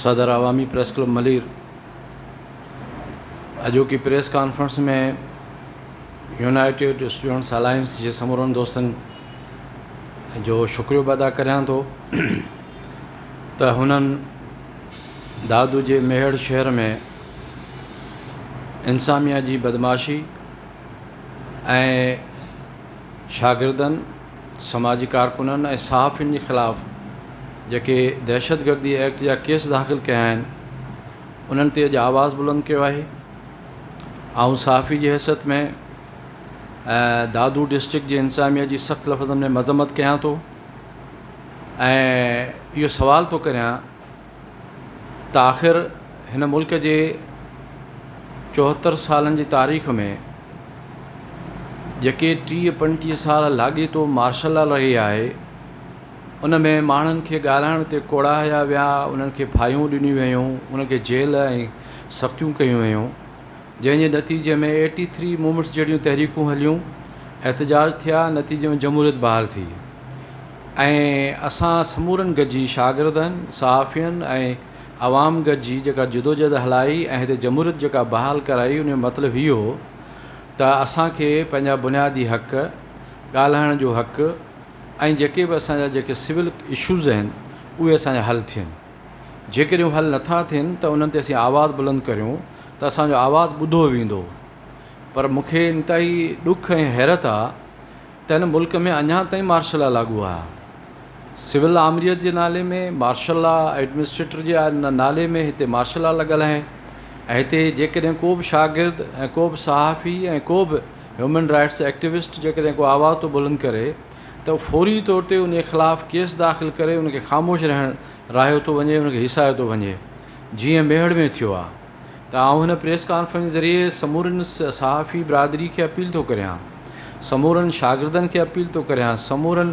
صدر Awami press club Malir اڄوڪي press conference ۾ united students alliance جي سمورن دوستن جو شڪريو به ادا ڪريان ٿو ته هنن دادو جي ميهڙ شهر ۾ انساميا جي بدمعاشي ۽ شاگردن سماجي ڪارڪنن ۽ صحافين جي خلاف جيڪي دهشتگردي ايڪٽ جا ڪيس داخل ڪيا آهن انهن تي اڄ آواز بلند ڪيو آهي آئون صحافي جي حيثيت ۾ دادو ڊسٽرڪٽ جي انتظاميه جي سخت لفظن ۾ مذمت ڪيان ٿو ۽ اهو سوال ٿو ڪريان ته آخر هن ملڪ جي چوهتر سالن جي تاريخ ۾ جيڪي ٽيهه پنجٽيهه سال لاڳيتو مارشل لا رهي آهي ان ۾ ماڻهن کي ڳالهائڻ تي ڪوڙايا ويا انهن کي ڦاهيون ڏنيون ويون انهن کي جيل ۽ سختيون ڪيون ويون جنهن جي نتيجي ۾ ايٽي ٿري مومينٽس جهڙيون تحريڪون هليون، احتجاج ٿيا، نتيجي ۾ جمهوريت بحال ٿي ۽ اسان سمورن گڏجي شاگردن، صحافين ۽ عوام گڏجي جيڪا جدوجهد هلائي ۽ هتي جمهوريت جيڪا بحال ڪرائي ان جو مطلب هي هو ته اسان کي پنهنجا بنيادي حق، ڳالهائڻ جو حق ۽ جيڪي به اسان جا جيڪي سول اشوز آهن اهي اسان جا حل ٿين. جيڪڏهن هو حل نٿا ٿين ته انهن تي اسين آواز بلند ڪريون ته اسان جو آواز ٻڌو ويندو پر مون کي انتهائي ڏک ۽ حيرت آ ته هن ملڪ ۾ اڃا تائين مارشل لا لاڳو آهي سول آمريت جي نالي ۾ مارشل لا ايڊمنسٽريٽر جي نالي ۾ هتي مارشل لا لڳل آهي ۽ هتي جيڪڏهن ڪو به شاگرد ۽ ڪو به صحافي ۽ ڪو به هيومن رائٽس ايڪٽيوسٽ جيڪڏهن ڪو آواز ٿو بلند ڪري ته فوري طور تي انهي خلاف ڪيس داخل ڪري ان کي خاموش رهڻ راهيو ٿو وڃي ان کي هيسايو ٿو وڃي جيئن ميهڙ ۾ ٿيو آهي ته آئون هن پريس ڪانفرنس ذريعي سمورين صحافي برادري کي اپيل ٿو ڪريان سمورن شاگردن کي اپيل ٿو ڪريان سمورن